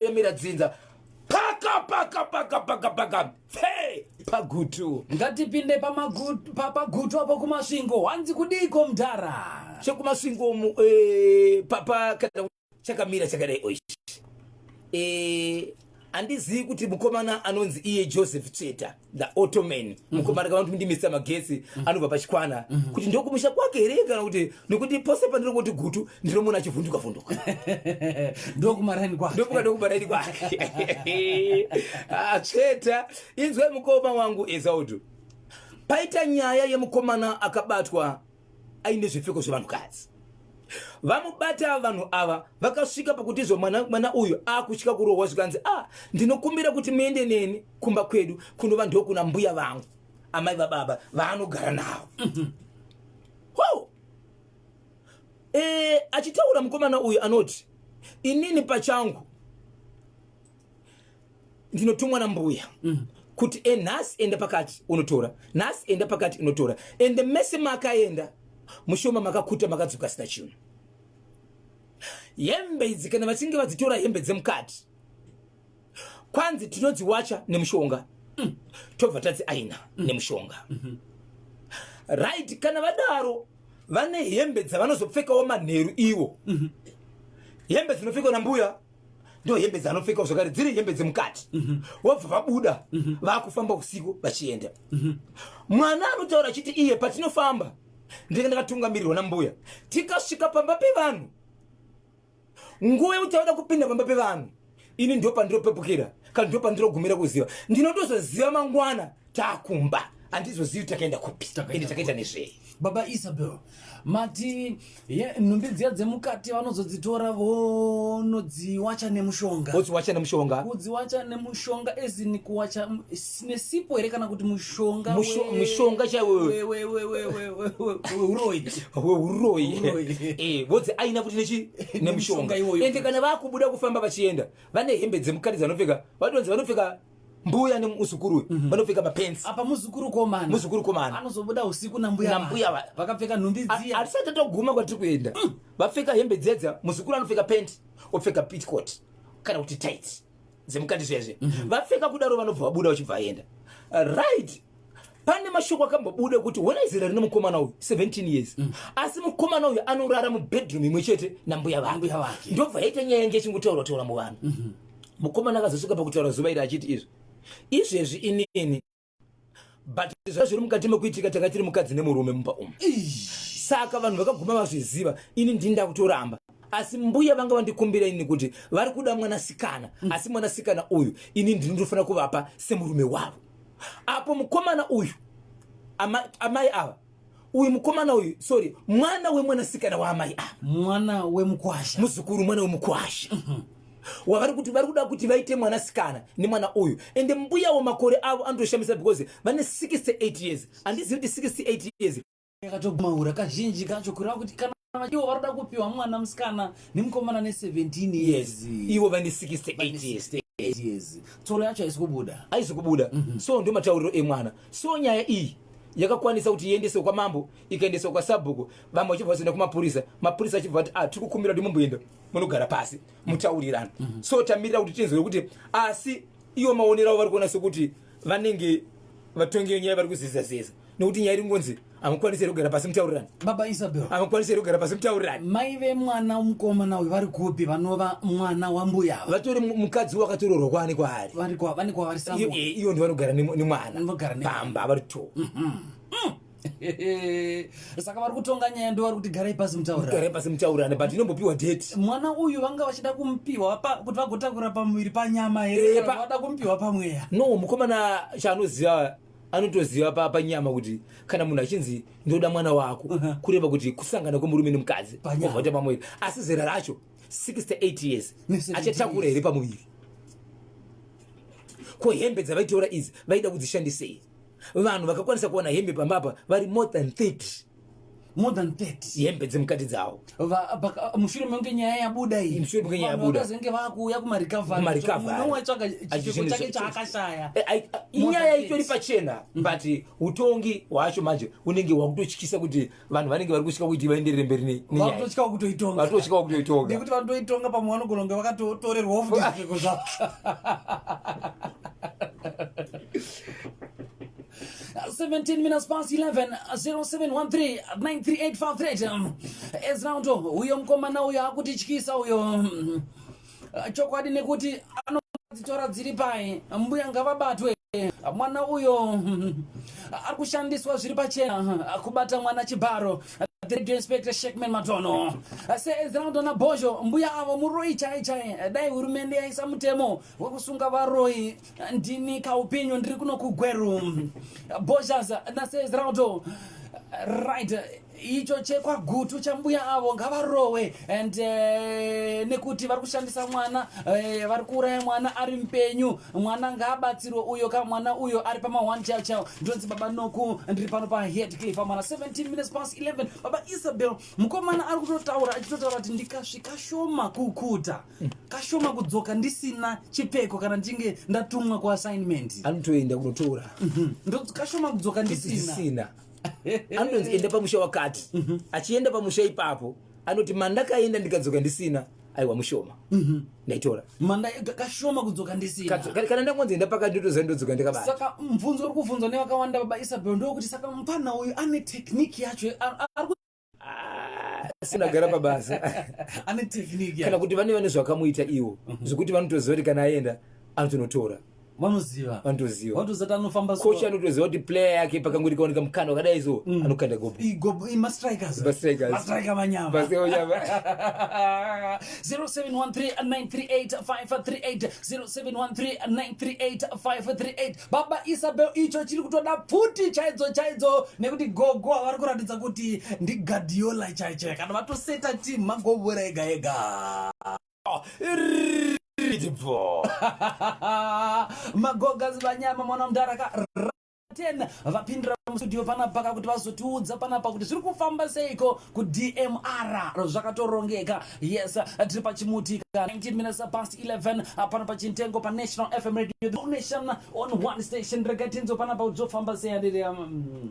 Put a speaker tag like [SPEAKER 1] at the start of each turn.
[SPEAKER 1] yemira dzinza paka paka paka paka paka fe pagutu ngatipinde
[SPEAKER 2] pamagutu pa, pagutu apo kumasvingo hanzi kudiiko mdhara chekumasvingo mu
[SPEAKER 1] eh, papa kana chakamira chakadai oish eh, handizivi kuti mukomana anonzi iye joseph tsveta the ottoman mhm. mukomana kana kuti ndimisa magetsi mhm. anobva pachikwana mhm. kuti ndokumusha kwake here kana kuti nokuti pose pandiri kuti gutu ndinomona achivhunduka vhunduka ndokumaraini
[SPEAKER 2] kwake ndokuka ndokumaraini kwake
[SPEAKER 1] atsveta ah, inzwai mukoma wangu ezaudu paita nyaya yemukomana akabatwa aine zvipfeko zvevanhukadzi vamubata vanhu ava vakasvika pakuti zvo mwana, mwana uyu akutya kurohwa zvikanzi a ah, ndinokumbira kuti muende neni kumba kwedu kunova ndokuna mbuya vangu amai vababa vaanogara navo mhm. ho e, achitaura mukomana uyu anoti inini pachangu ndinotumwa nambuya mm. kuti e nhasi enda pakati unotora nhasi enda pakati unotora and mese makaenda mushoma makakuta makadzoka sina chinhu hembe idzi kana vachinge vadzitora hembe dzemukati kwanzi tinodziwacha nemushonga mm. tobva tadzi aina mm. nemushonga mm -hmm. right kana vadaro vane hembe dzavanozopfekawo manheru iwo mm -hmm. hembe dzinopfekwa nambuya ndo hembe dzaanopfeka zvakare dziri hembe dzemukati mhm. wobva vabuda mhm. vakufamba usiku vachienda mhm. mwana anotaura achiti iye patinofamba ndenge ndakatungamirirwa nambuya tikasvika pamba pevanhu nguva yekuti auda kupinda pamba pevanhu ini ndo pandiropepukira kana ndo pandirogumira kuziva ndinotozoziva mangwana takumba handizozivi takaenda kupi ende takaita nezvei baba isabel
[SPEAKER 2] mati nhumbi dziya dzemukati vanozodzitora vonodziwacha nemushonga odziwacha nemushonga kudziwacha nemushonga ezini kuwacha nesipo here kana kuti mushonga mushonga chaiweuroi
[SPEAKER 1] vodzi aina kuti nechi nemushonga ende kana vakubuda kufamba vachienda vane hembe dzemukati dzavanopfeka vatonzi vanopfeka mbuya nemuzukuru uyu mhm. vanopfeka mapensi apa muzukuru komana
[SPEAKER 2] muzukuru komana anozobuda usiku nambuya nambuya vaya vakapfeka nhumbi dziya atisati toguma kwatiri
[SPEAKER 1] kuenda mm. vapfeka hembe dzedza muzukuru anopfeka penti opfeka pitcot kana kuti tit dzemukati zviyazve mhm. vapfeka kudaro vanobva vabuda vachibva vaenda right pane mashoko akambobuda kuti hona izera rine mukomana uyu 17 years mm. asi mukomana uyu anorara mubedroom imwe chete nambuya vangu ndobva yaita nyaya yange ichingotaura taura muvanhu mm -hmm. mukomana akazosvika pakutaura zuva iri achiti izvi izvezvi inini but zvazviri mukati mekuitika tanga tiri mukadzi nemurume mumba umu saka vanhu vakaguma vazviziva ini ndini ndakutoramba asi mbuya vanga vandikumbira ini kuti vari kuda mwanasikana mm. asi mwanasikana uyu ini ndini ndofanira kuvapa semurume wavo apo mukomana uyu amai ava uyu mukomana uyu sorry mwana wemwanasikana waamai ava mwana wemukwasha
[SPEAKER 2] muzukuru mwana wemukwasha
[SPEAKER 1] mm -hmm wavari kuti vari kuda kuti vaite mwanasikana nemwana uyu ende mbuyawo makore avo anotoshamisa because vane 68 years handizivi kuti 68 years yakatomaura
[SPEAKER 2] kazhinji kacho kureva kuti kana ivo varoda kupiwa mwana musikana nemukomana ne17 years ivo vane 68
[SPEAKER 1] years years
[SPEAKER 2] tsoro yacho haisi kubuda haisi kubuda
[SPEAKER 1] mm -hmm. so ndio matauriro emwana so nyaya iyi yakakwanisa kuti iendeswe kwamambo ikaendeswa kwasabhuku vamwe vachibva vazoenda kumapurisa mapurisa achibva vati ah, tiri kukumbira kuti mumboenda munogara pasi mutaurirana mm -hmm. so tamirira kuti tinzwe kuti asi iwo maonero avo vari kuona sekuti vanenge vatongi venyaya vari kuzizaziza nokuti nyaya iri kungonzi hamukwanisi here kugara pasi mutaurirani baba isabel hamukwanisi
[SPEAKER 2] here kugara pasi
[SPEAKER 1] mutaurirani mai vemwana
[SPEAKER 2] mukomana uyu vari kupi vanova mwana wambuya ava vatori mu- mukadzi
[SPEAKER 1] wakatororwa kwaani kwaari vari kwa- vane kwavari Iyo-
[SPEAKER 2] sambo eh, iyo ndivanogara nemu-
[SPEAKER 1] nemwana Vanogara ne- pamba vari two
[SPEAKER 2] saka vari kutonga nyaya ndo vari kuti garai pasi mutaurira garai pasi mutaurirani
[SPEAKER 1] but inombopiwa date mwana uyu vanga
[SPEAKER 2] vachida kumupiwa pa- kuti vagotakura pamuviri panyama Eh, here pa- vada kumupiwa pamweya no mukomana
[SPEAKER 1] chaanoziva anotoziva pa panyama kuti kana munhu achinzi ndoda mwana wako uh -huh. kureva kuti kusangana kwemurume nemukadzi ovhota pamwiri asi zera racho 68 years achatakura here pamuviri ko hembe dzavaitora idzi vaida kudzishandisei vanhu vakakwanisa kuwana hembe pambapa vari more than 30 more
[SPEAKER 2] than 30 hembe dzemukati dzawo
[SPEAKER 1] mushure
[SPEAKER 2] menge nyaya yabuda iyi mushure menge nyaya yabuda zenge
[SPEAKER 1] vakuuya kuma
[SPEAKER 2] recovery kuma recovery no watsvaka chipfeko chake chaakashaya eh, eh, inyaya
[SPEAKER 1] itori pachena mm. but utongi wacho manje unenge wakutochikisa kuti vanhu vanenge vari kushika kuti vaenderere mberi ne nyaya vakutotya kutoitonga
[SPEAKER 2] vakutotya kutoitonga nekuti vanotoitonga pamwe vanogona kunge vakatotorerwa off zvipfeko zvavo 17 minutes past 11 0713 93853 ezinauto uyo mukomana uyo akutityisa uyo chokwadi nekuti anodzitora dziri pai mbuya ngavabatwe mwana uyo ari kushandiswa zviri pachena kubata mwana chibharo the radio inspector shekman matono seezirandona bhozho mbuya avo muroi chai chai dai hurumende yaisa mutemo wekusunga varoi ndini kaupenyu ndiri kuno kugweru boshas naseezrauto right icho chekwagutu chambuya avo ngavarowe and uh, nekuti vari kushandisa mwana uh, vari kuuraya mwana ari mupenyu mwana ngaabatsirwe uyo ka mwana uyo ari pama one chao chao ndonzi baba noku ndiri pano paheadcliff amwana 17 minutes past 11 baba isabel mukomana ari kutotaura achitotaura kuti ndikasvika shoma kukuta kashoma kudzoka ndisina chipfeko kana ndichinge ndatumwa kuassignment anotoenda kunotora
[SPEAKER 1] mhm. ndokuti kashoma
[SPEAKER 2] kudzoka ndisina
[SPEAKER 1] anotoenda pamusha wakati mhm. achienda pamusha ipapo anoti mandakaenda ndikadzoka ndisina aiwa mushoma mhm. ndaitora manda
[SPEAKER 2] kashoma kudzoka ndisina kana ndangonzi enda
[SPEAKER 1] pakati ndotoziva ndodzoka ndikabata saka mubvunzo uri
[SPEAKER 2] kubvunzwa nevakawanda baba isabel ndokuti saka mupana uyu ane tekniki yacho
[SPEAKER 1] sinagara pabasa ane
[SPEAKER 2] tekniki kana kuti vane vane zvakamuita
[SPEAKER 1] iwo mhm. zvekuti vanotoziva kuti kana aenda anotonotora vanoziva
[SPEAKER 2] vanotoziva vanotoziva kuti anofamba coach anotoziva kuti
[SPEAKER 1] player yake pakango rikaoneka mukana wakadai so mm. anokanda gobo igobo ima strikers ba
[SPEAKER 2] strikers ba striker vanyama ba striker vanyama 0713938538 0713938538 baba Isabel icho chiri kutoda pfuti chaidzo chaidzo nekuti gogo avari kuratidza kuti ndi Guardiola chaicho kana vatoseta team magobora ega ega magogas vanyama mwana mdara ka ten vapindira mustudio panapaka kuti vazotiudza panapa kuti zviri kufamba seiko kudmr zvakatorongeka yes tiri pachimuti 19 minutes past 11 apana pachintengo panational fm radio the nation on one station rega tinzo panapa kuti zvofamba sei andiri um,